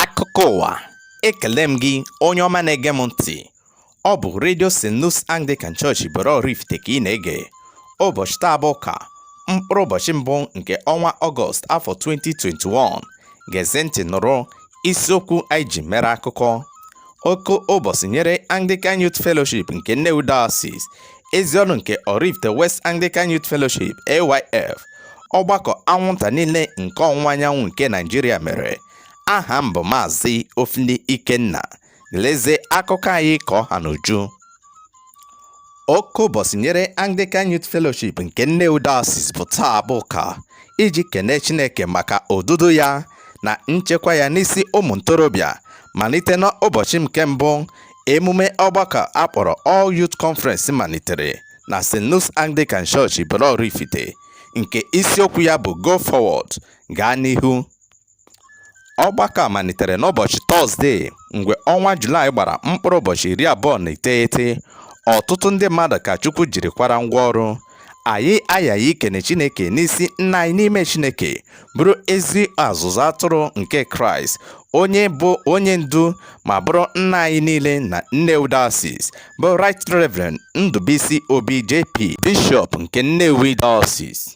akụkọ ụwa ekele m gị onye ọma na-ege m ntị ọ bụ redio st. luke's anglican church ibolo oraifite ka ị na-ege ụbọchị taa bụ ụka mkpụrụ ụbọchị mbụ nke ọnwa ọgọst afọ 2021 gezie ntị nụrụ isiokwu anyị ji mere akụkọ oke ụbọchị nyere anglican youth fellowship nke nnewi diocese ezi ọrụ nke Oraifite West Anglican Youth Fellowship AYF ọgbakọ anwụnta niile nke ọwụwa anyanwụ nke Naijiria mere aha m bụ Maazị Ofili Ikenna lezie akụkọ anyị ka ọ ha n'uju oke ụbọchị nyere Anglican Youth Fellowship nke Nnewi Diocese bụ taa bụ ụka iji kene Chineke maka odudu ya na nchekwa ya n'isi ụmụ ntorobịa malite n'ụbọchị nke mbụ Emume ọgbakọ a kpọrọ All Youth Conference malitere na St. Luke's Anglican Church Ibolo-Oraifite nke isiokwu ya bụ Go Forward, Gaa N'ihu. Ọgbakọ a malitere n'ụbọchị Tọzdee mgbe ọnwa Julaị gbara mkpụrụ ụbọchị iri abụọ na iteghete, ọtụtụ ndị mmadụ ka Chukwu jiri kwara ngwa ọrụ anyị aghaghị ikene Chineke n'isi nna anyị n'ime Chineke bụrụ ezi ọzụzụ atụrụ nke Kraịst onye bụ onye ndu ma bụrụ nna anyị niile na Nnewi Diocese bụ Right Reverend Ndụbụisi Obi JP Bishọp nke Nnewi Diocese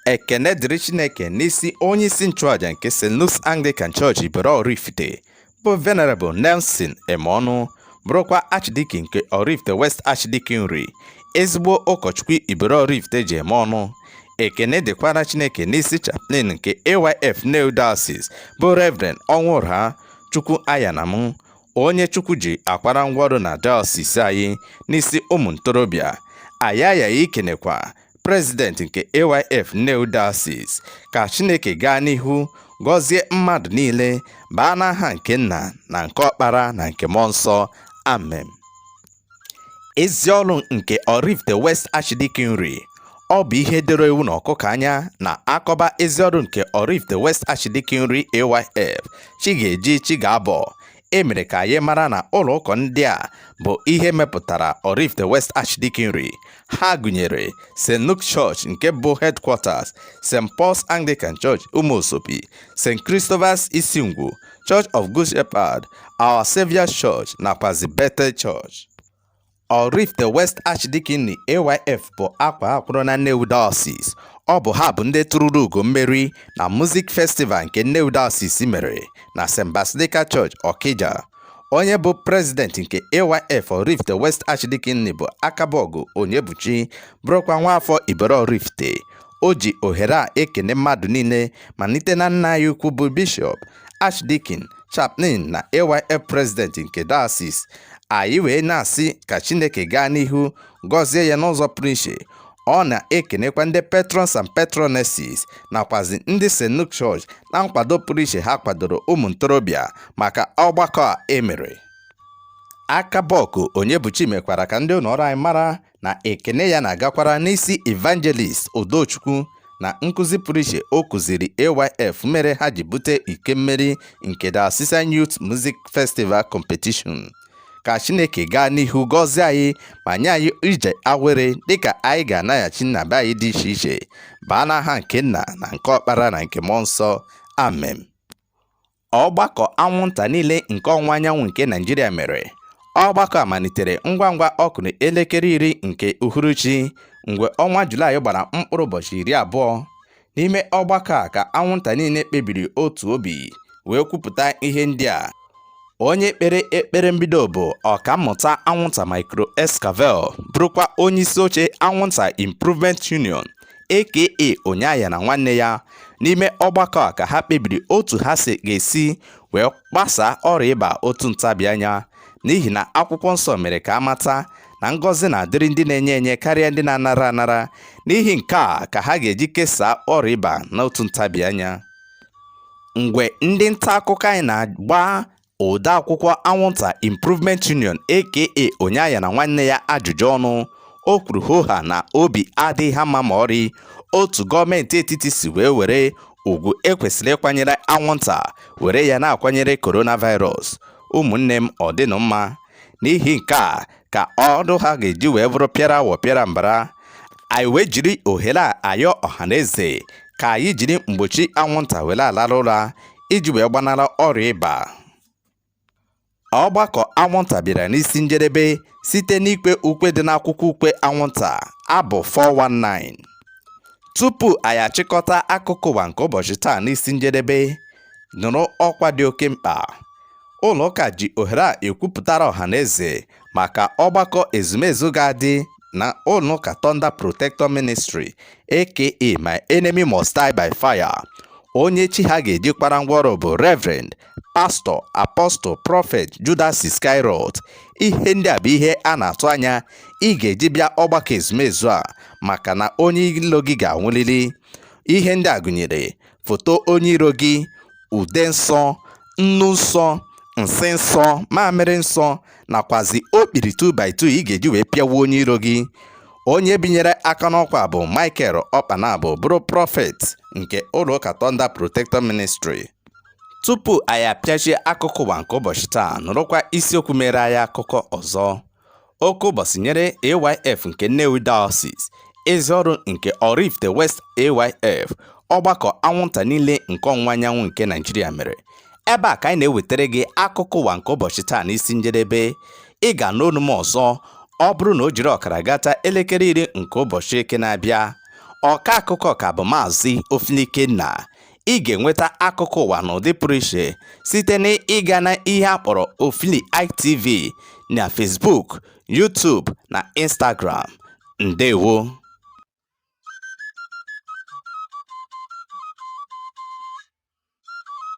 ekene dịrị Chineke n'isi onye isi nchụàja nke St. Luke's Anglican Church Ibolo Oraifite bụ Venerable Nelson Emeọnụ bụrụkwa Archdeacon nke Oraifite West Archdeaconry ezigbo ụkọchukwu Ibolo Oraifite ji eme ọnụ ekene dịkwara Chineke n'isi chaplain nke AYF Nnewi Diocese bụ Reverend Ọnwụrah Chukwuaghanam onye Chukwu ji akwara ngwaọrụ na diocese anyị n'isi ụmụ ntorobịa anyị aghaghị ikenekwa prezident nke AYF Nnewi Diocese ka Chineke gaa n'ihu gọzie mmadụ niile baa n'aha nke nna na nke ọkpara na nke mmụọ nsọ amen ezi ọrụ nke Oraifite West Archdeaconry ọ bụ ihe doro ewu na ọkụkọ anya na a kọba ezi ọrụ nke Oraifite West Archdeaconry AYF chi ga-eji chi ga-abọ e mere ka anyị mara na ụlọ ụka ndị a bụ ihe mepụtara Oraifite West Archdeaconry ha gụnyere St. Luke Church nke bụ headquarters St. Paul's Anglican Church Umuezopi St. Christopher's Isingwu Church of Good Shepherd Our Saviour's Church nakwazi Bethel Church Oraifite West Archdeaconry AYF bụ akwaa akwụrụ na Nnewi Diocese. Ọ bụ ha bụ ndị tụrụrụ ugo mmeri na Music Festival nke Nnewi Diocese mere na St. Basilica Church, Okija. Onye bụ President nke AYF Oraifite West Archdeaconry bụ Akabọgụ Onyebuchi bụrụkwa nwaafọ Ibolo Oraifite. O ji ohere a ekene mmadụ niile malite na nna anyị ukwu bụ Bishọp Archdeacon Chaplain na AYF President nke Diocese anyị wee na-asị ka Chineke gaa n'ihu gọzie ya n'ụzọ pụrụ iche ọ na-ekenekwa ndị patrons and patronesses nakwazi ndị St. Luke Church na nkwado pụrụ iche ha kwadoro ụmụ ntorobịa maka ọgbakọ a emere Akaboku Onyebuchi mekwara ka ndị ụlọ ọrụ anyị mara na ekene ya na-agakwara n'isi Evangelist Udochukwu na nkụzi pụrụ iche o kụziri AYF mere ha ji bute iko mmeri nke Diocesan Youth Music Festival Competition ka Chineke gaa n'ihu gọzie anyị ma nye anyị ije awere dịka anyị ga-anaghachi na be anyị dị iche iche baa n'aha nke nna na nke ọkpara na nke mmụọ nsọ amen ọgbakọ anwụnta niile nke ọwụwa anyanwụ nke Naịjirịa mere ọgbakọ a malitere ngwa ngwa ọ kụrụ elekere iri nke uhuruchi mgbe ọnwa Julaị gbara mkpụrụ ụbọchị iri abụọ n'ime ọgbakọ a ka anwụnta niile kpebiri otu obi wee kwupụta ihe ndị a onye kpere ekpere mbido bụ ọkammụta anwụnta Micro Escavel bụrụkwa onye isi oche anwụnta improvement union aka onye ayana nwanne ya n'ime ọgbakọ a ka ha kpebiri otu ha ga-esi wee gbasaa ọrịa ịba otu ntabi anya n'ihi na akwụkwọ nsọ mere ka a mata na ngọzi na-adịrị ndị na-enye enye karịa ndị na-anara anara n'ihi nke a ka ha ga-eji kesaa ọrịa ịba n'otu ntabi anya mgbe ndị nta akụkọ anyị na-agba odeakwụkwọ anwụnta Improvement Union aka onye ayana nwanne ya ajụjụ ọnụ o kwuru hoha na obi adịghị ha mma ma ọrị otu gọọmenti etiti si wee were ugwu e kwesịrị ịkwanyere anwụnta were ya na-akwanyere coronavirus ụmụnne m ọ dịnụ mma n'ihi nke a ka ọdụ ha ga-eji wee bụrụ pịara awọ pịara mbara anyị wee jiri ohere a ayọ ọhaneze ka anyị jiri mgbochi anwụnta were alara ụra iji wee gbanara ọrịa ịba ọgbakọ anwụnta bịara n'isi njedebe site n'ikwe ukwe dị n'akwụkwọ ukwe anwụnta abụ 419 tupu anyị achịkọta akụkọ ụwa nke ụbọchị taa n'isi njedebe nụrụ ọkwa dị oke mkpa ụlọ ụka ji ohere a ekwupụtara ọha na eze maka ọgbakọ ezumezu ga-adị na ụlọụka Thunder Protector Ministry aka My Enemy Must Die by Fire onye chi ha ga-eji kpara ngwaọrụ bụ Reverend Pastor Apostle Prophet Judas Iscariot ihe ndị a bụ ihe a na-atụ anya ị ga-eji bịa ọgbakọ ezumezu a maka na onye ilo gị ga-anwụlili ihe ndị a gụnyere foto onye iro gị ude nsọ nnu nsọ nsị nsọ mamịrị nsọ nakwazi okpiri 2x2 ị ga-eji wee pịawa onye iro gị onye binyere aka n'ọkwa bụ Michael Okpanabo bụrụ prọfet nke ụlọụka Thunder Protector Ministry tupu anyị apịachie akụkọ ụwa nke ụbọchị taa nụrụkwa isiokwu mere anyị akụkọ ọzọ oke ụbọchị nyere AYF nke Nnewi Diocese ezi ọrụ nke Oraifite West AYF ọgbakọ anwụnta niile nke ọwụwa anyanwụ nke Naijiria mere ebe a ka anyị na-ewetara gị akụkọ ụwa nke ụbọchị taa n'isi njedebe ị ga-anụ onu m ọzọ ọ bụrụ na o jiri ọkara gata elekere iri nke ụbọchị eke na-abịa ọka akụkọ ka bụ maazị Ofilikenna ị ga-enweta akụkọ ụwa n'ụdị pụrụ iche site na ịga na ihe a kpọrọ Ofili ITV na Facebook, YouTube na Instagram. Ndewo!